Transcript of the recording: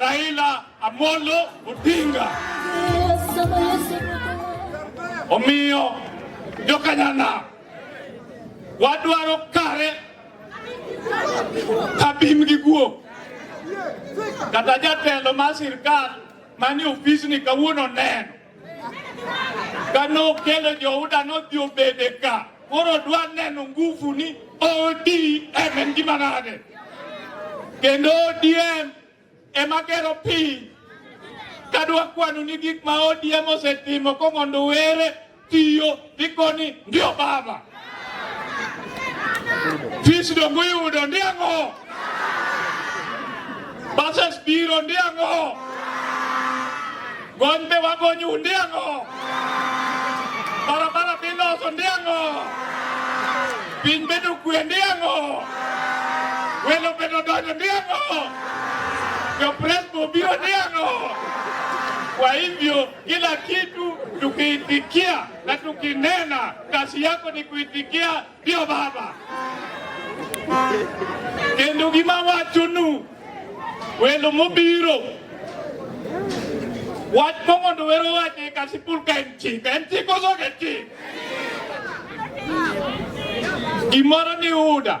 Raila Amolo Odinga. Omiyo jokanyana wadwaro kare kabim gi guok kata jatelo mar sirkal manie ofisni kawuono neno Kane okelo Johuda nodhi obede ka, koro dwa neno nguvu ni ODM en gima nade, kendo ODM ema gero piny. Kadwa kwanu ni gik ma ODM osetimo komondo were tiyo Likoni ndio baba fis dongo yudo ndiango bases biro ndiango gony be wagonyu ndiango barabara biloso ndiango piny bedo kwe ndiango welo bedo donjo ndiango jopresbo biro ndiango kwa hivyo Kila kitu tukiitikia na tukinena, kazi yako ni kuitikia ndio baba kendo gima wachonu welo mobiro wach momondo wero wache kasipul ka en chik en chik osoke chik gimoro ni uda